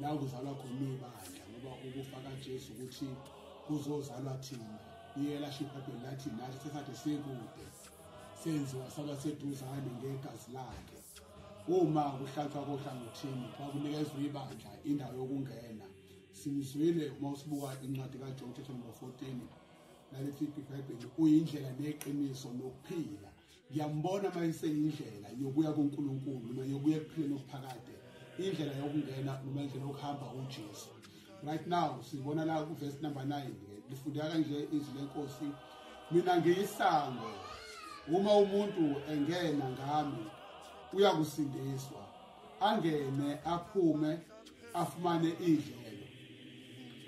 la kuzalwa khona ibandla ngoba ukufa kaJesu ukuthi kuzozalwa thina iyela shibhabheli lathi nathi sesade sekude senziwa saba seduzane ngegazi lakhe uma kuhlatshwa kohlangothini xa kunikezwa ibandla indawo yokungena simzwile uma usibuka incwadi kajohn chapter number 14 nalethi ibhayibheli uyindlela neqiniso nokuphila ngiyambona uma iseyindlela yokuya kunkulunkulu noma yokuya ekuphileni okuphakade indlela yokungena noma indlela yokuhamba ujesu right now sibona la kuvesi number 9 lifundeka kanje izwi lenkosi mina ngiyisango uma umuntu engena ngami uyakusindiswa angene aphume afumane idlelo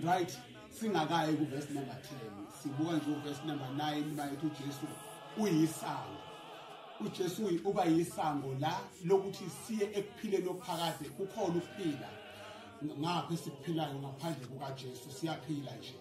right singakayi kuverse number 10 sibuka nje uverse number 9 bayethu uJesu uyisango uJesu uba yisango la lokuthi siye ekuphileni okuphakade kukhona ukuphila ngapha esiphilayo ngaphandle kukaJesu siyaphila nje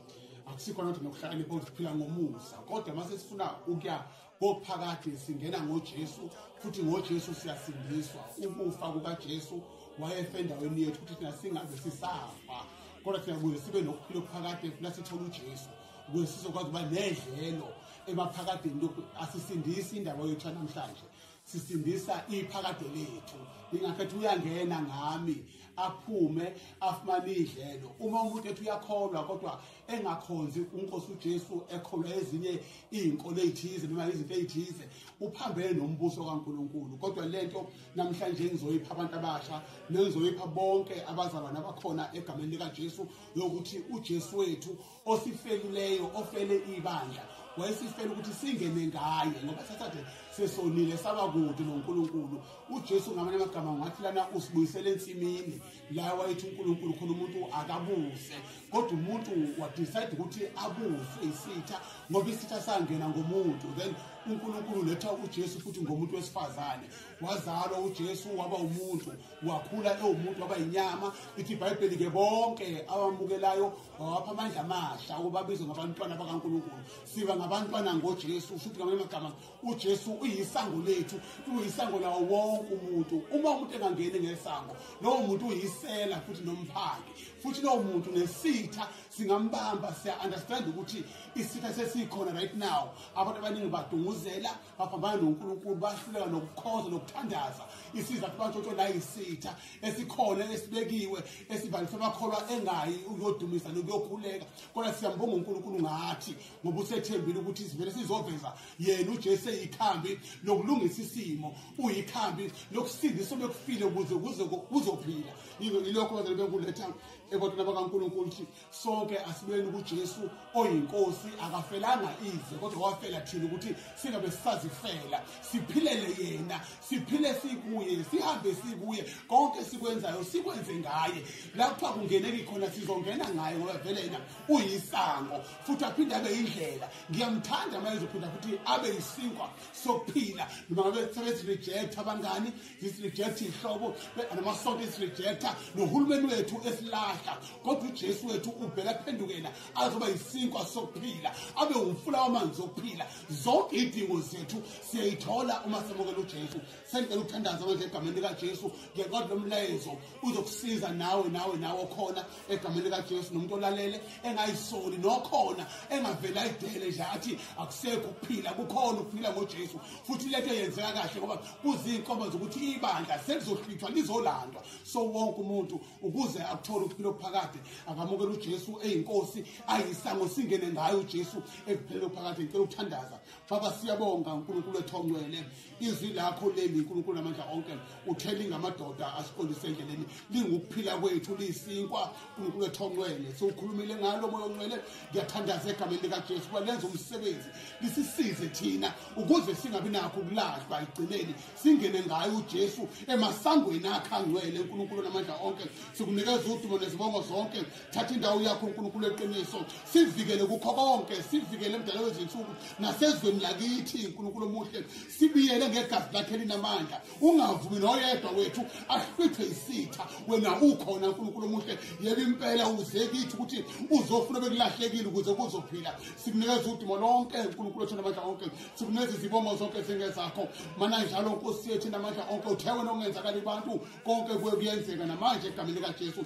akusikho nje nokuhlakanipha ukuphila ngomusa kodwa mase sifuna ukuya kophakade singena ngoJesu futhi ngoJesu siyasindiswa ukufa kukaJesu wayefa endaweni yethu ukuthi thina singabe sisafa kodwa thina kuze sibe nokuphila okuphakade funa sithole uJesu kuze sizokwazi ukuba nedlelo emaphakadeni asisindisi indaba yethu namhlanje sisindisa iphakade lethu ingakho ethi uyangena ngami aphume afumane idlelo uma umuntu ethi uyakholwa kodwa engakhonzi unkosi uJesu ekholwa ezinye izinkolo ezithize noma izinto ezithize uphambene nombuso kaNkuluNkulu kodwa lento namhlanje ngizoyipha abantu abasha nengizoyipha bonke abazalwane abakhona egameni likaJesu yokuthi uJesu wethu osifeluleyo ofele ibandla wayesifela ukuthi singene ngaye ngoba sasade sesonile saba kude noNkulunkulu uJesu ngamanye amagama ngathi lana usibuyisele ensimini la wayethi uNkulunkulu khona umuntu akabuse kodwa umuntu wadecide ukuthi abuswe isitha ngoba isitha sangena ngomuntu then uNkulunkulu letha uJesu futhi ngomuntu wesifazane wazalwa uJesu waba umuntu wakhula ewumuntu waba inyama ithi iBhayibheli ke bonke abamukelayo wawapha amandla amasha ukuba bizwe ngabantwana bakankulunkulu siba ngabantwana ngojesu usho ukuthi ngamanye amagama ujesu uyisango lethu uyisango lawo wonke umuntu uma umuntu engangeni ngesango lowo muntu uyisela futhi nomphandi futhi lowo muntu nesitha singambamba siya-understand ukuthi isitha sesikhona right now abantu abaningi badunguzela baphambana noNkulunkulu bahluleka nokukhonza nokuthandaza isiza kubantshotsho la yisitha esikhona esibekiwe esivalisa amakholwa engayi ukuyodumisa nokuyokhuleka kodwa siyambonga uNkulunkulu ngathi ngoba usethembile ukuthi sivele sizoveza yena uJesu eyikhambi lokulungisa isimo uyikhambi lokusindisa obekufile ukuze kuzophila yilokho bazali benkuletha ebantwini bakaNkulunkulu ukuthi sonke asibuyeni kuJesu oyinkosi akafelanga ize kodwa wafela thina ukuthi singabe sisazifela siphilele yena siphile sikuye sihambe sikuye konke sikwenzayo sikwenze ngaye lapha kungeneki khona sizongena ngaye ngoba vele yena uyisango futhi aphinde abe indlela ngiyamthanda uma ezophinda futhi abe yisinkwa sokuphila noma ngabe sebethi reject abangani isirejekta iy'hlobo namasonto esirejekta nohulumeni wethu esilahla kodwa ujesu wethu uvele aphendukela azoba yisinkwa sokuphila abe wumfula wamanzi okuphila zonke iy'dingo zethu siyayithola uma samukela ujesu sendlela ukuthandaza manje egameni likajesu ngekodwa lomlayezo uzokusiza nawe nawe nawe okhona egameni likajesu nomuntu olalele engayisoli nokhona engavele ayidele nje athi akusekho ukuphila kukhona ukuphila ngojesu futhi lento yenzeka kahle ngoba kuziinkomo zokuthi ibandla selizohlwithwa lizolandwa so wonke umuntu ukuze akuthole ukuphila okuphakade akamukele ujesu eyinkosi ayisango singene ngayo ujesu ekuphelele okuphakade ngicela ukuthandaza baba siyabonga unkulunkulu wethu ongcwele izwi lakho leli nkulunkulu amandla onke uthele ngamadoda asiqondise endleleni lingukuphila kwethu liyisinkwa nkulunkulu ethonqwele siwukhulumile ngalo moya onqwele ngiyathandaza egameni likajesu uba lenze umsebenzi lisisize thina ukuze singabi nakho ukulahlwa ekugcineni singene ngayo ujesu emasangweni akhe angcwele nkulunkulu namandla onke sikunikeza udumo nezibongo zonke thatha indawo yakho unkulunkulu eqiniso sivikele kukho konke sivikele emdala wezinsuku nasezweni lakithi unkulunkulu omuhle sibiyele ngegazi lakhe linamandla ungavumi noyedwa wethu ahlwithe isitha wena ukhona unkulunkulu omuhle yebe impela uze kithi ukuthi uzofuna bekulahlekile ukuze kuzophila sikunikeza udimo lonke unkulunkulu othanda amandla onke sikunikeza izibongo zonke zingezakho mana njalo nkosi yethu namandla onke uthe wena ongenzakali abantu konke kuye kuyenzeka namanje egameni likajesu